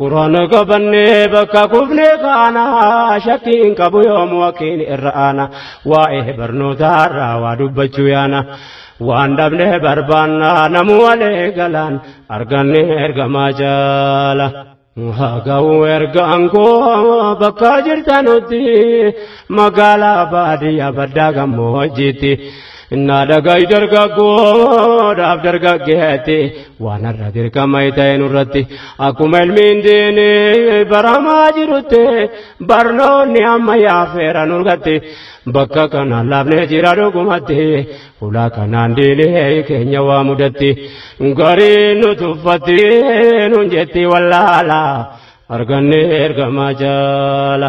Quraana qabannee bakka kufne kaana shakkii hin qabu yoomu wakiin irra aana waa'ee barnootaarraa waa dubbachuu yaana waan dhabne barbaanna namu walee galaan arganne ergamaa jaala. Haga'u ergaan koo bakka jirtanutti magaalaa baadiyyaa baddaa gammoojjiitti. Innaa dhaga'i dargaggoodhaaf dargaggeetti waan har'a dirqama ta'e nurratti akkuma ilmiin diini baramaa jirutti barnoonni amma yaafeera nurgatti bakka kana laafnee jira dhugumatti ulaa kanaan diini keenya waa mudatti garii nu tuffatti nun jetti wallaala argannee ergamaa jaala.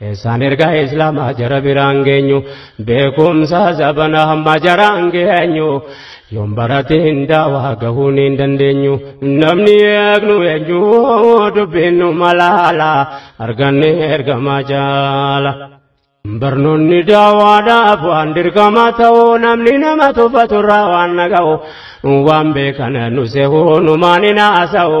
Isaan ergaa islaamaa jara biraan geenyu beekumsa zabana hamma jaraan geenyu yoon barate hin daawaa gahuu ni hin dandeenyu namni eegnu eenyu dubbinnu malaala arganne ergamaa jaala. Barnoonni daawaadhaaf waan dirqama ta'u namni nama tuffaturraa waan naga'u waan beekan nu sehu numaan hin haasa'u.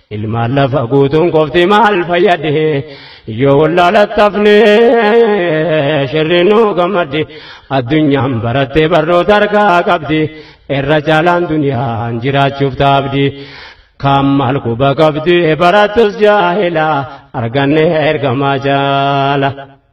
Ilmaan lafa guutuun qofti maal fayyade yoo wallaalatafne shirri nu gammadde addunyaan barattee barnoota harkaa qabdi irra caalaan duniyaan jiraachuuf taabdi kaan maal quba qabdi barattus jaahila arganne ergamaa jaala.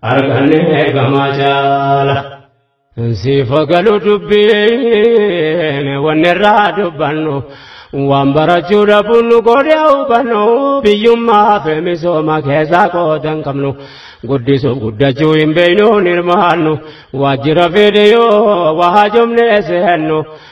arganne ergamaa jaala. Siifa galu dubbiin wanni irraa dubbannu waan barachuu dhabuun nu godhe hubannu biyyummaa fi misooma keessaa qooda hin qabnu guddisuuf guddachuu hin beeknu hin hirmaannu waajjira fedhe yoo waa jomnee seennu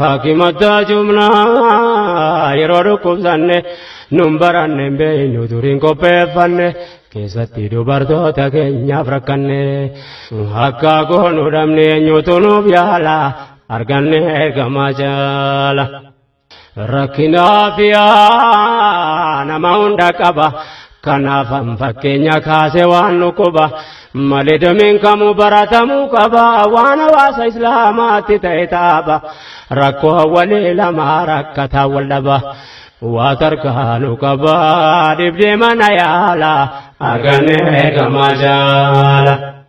Hakimataa jumlaa yeroo dhukkubsanne nun baranne hin beeknu duriin qopheeffanne keessatti dubartoota keenyaaf rakkanne akka goonu dhabne eenyutu nuuf yaala arganne ergamaa jaala. Rakkinaa fi nama hunda qaba Kanaaf an fakkeenya kaase waan dhukkuba malee dameen kamuu baratamuu qaba waan hawaasa islaamaatti ta'e taaba rakkoo hawwalee lamaa rakkataa wal dhaba waa tarkaanu qaba dhibdee mana yaala arganne gamaa jaala.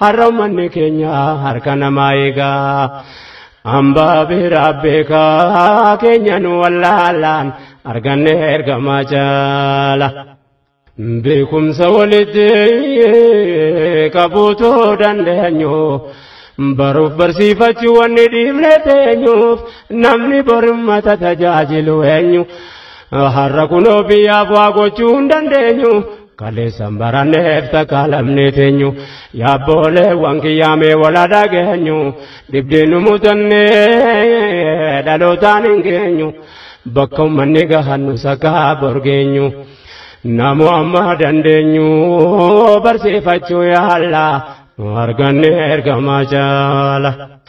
Har'a ummanni keenya harka namaa eegaa. Ambaa biraa beekaa keenya nu wallaalaan arganne ergamaa jaala. Beekumsa walitti qabuutu dandeenyu. Baruuf barsiifachuu wanni dhiifne teenyuuf namni borimmata tajaajilu eenyu. Har'a kunoo biyyaaf waa gochuu hin dandeenyu. Kaleessan baranneef takka lamnee teenyu yaabboolee waan kiyyaamee walaa dhageenyu dhibdee nu mutannee dhalootaan hin geenyu bakka ummanni gahannu sakaa borgeenyu namu amma dandeenyu barsiifachuu yaalla nu arganne ergamaa jaala.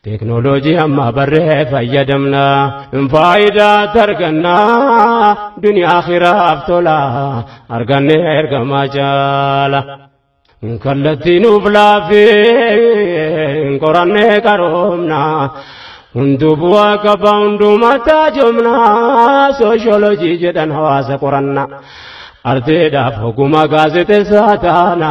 Teeknooloojii amma barree fayyadamna faayidaa targannaa duniyaa akhiraaf tola arganne ergamaa jaala. Kallattii nuuf laafee qorannee qaroomna hunduu bu'aa qaba hundumataa jomna sooshoolojii jedhan hawaasa qoranna. Arteedhaaf oguma gaazexessaa taana.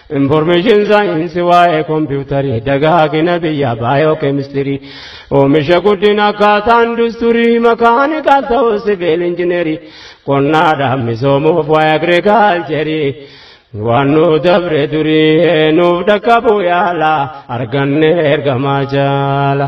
Information science waa'ee kompiitarii dagaagina biyya baayookeemistirii oomisha guddina akkaataa industirii makaanikaal ta'uu siviil injinerii qonnaadhaan misoomuuf waa'ee agriikaalcherii waan nu dabre durii nuuf dhaqqabuu yaala arganne ergamaa jaala.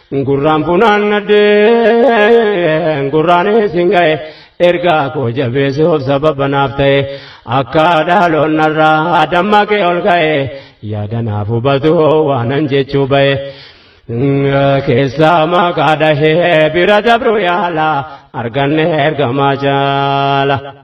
Gurraan funaannadhee gurraan isin ga'e ergaa koo jabeessi of sababa naaf ta'e akka dhaaloonnarraa dammaqee ol ka'e yaada naaf hubatu waanan jechuu ba'e. Keessaa maqaa dhahee bira dabruu yaala arganne ergamaa jaala.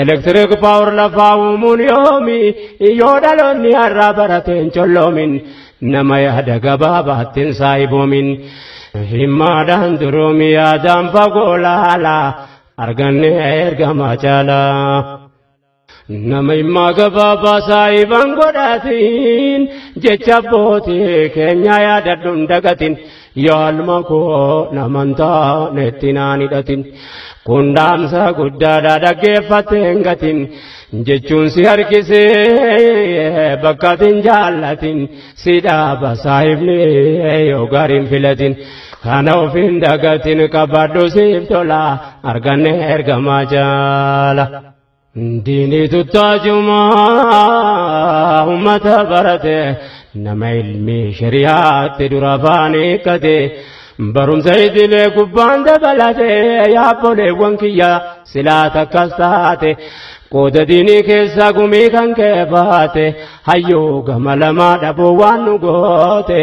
Elektiriik paawar lafaa uumuun yoomi yoo dhaloonni har'aa barateen colloomin nama yaada gabaabaattiin saayiboomin himmaadhaan duroomi yaadaan fagoo laala arganne ergamaa caalaa. Nama himmaa gabaabaa saayiban godhaatiin jecha abbootii keenya yaadadhuun dagatiin. Yaalma koo naman taanetti naan hidhatin kun dhaamsa guddaadha dhaggeeffattee hin gatin jechuun si harkisee bakka ati hin jaallatin si dhaaba saahibni yoo gaariin filatin kana of hin dagatin qabadhu siif tola arganne ergamaa jaala. Diinii tuttaajumaa ummata barate nama ilmii shari'aatti dura afaan hiikkate barumsa idilee gubbaan dabalate yaabboleewwan kiyya silaa takkas taate qooda diinii keessa gumii kan kee baate hayyuu gama lamaa dhabuu waan nu goote.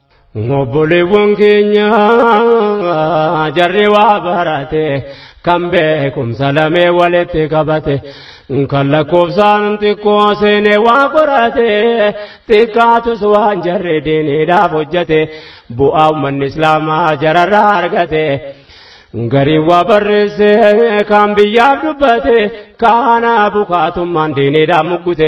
Obboleewwan keenya jarri waa barate kan beekumsa lamee walitti qabate kan lakkoofsaan xiqqoo seenee waa qorate xiqqaatus waan jarri diiniidhaaf hojjete bu'aa uummanni islaamaa jararraa argate. Gariin waa barreesse kan biyyaaf dubbate kaana bukaatummaan diiniidhaaf muggute.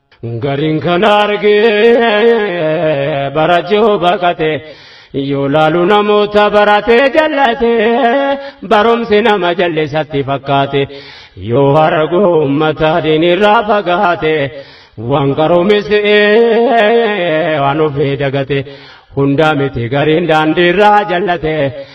Gariin kan argee bara jiru baqate yoo laalu namoota baratee jallate barumsi nama jallisatti fakkaate yoo argu uummata diinirraa fagaate waan qaroomise waan ofii dagate hundaa miti gariin daandiirraa jallate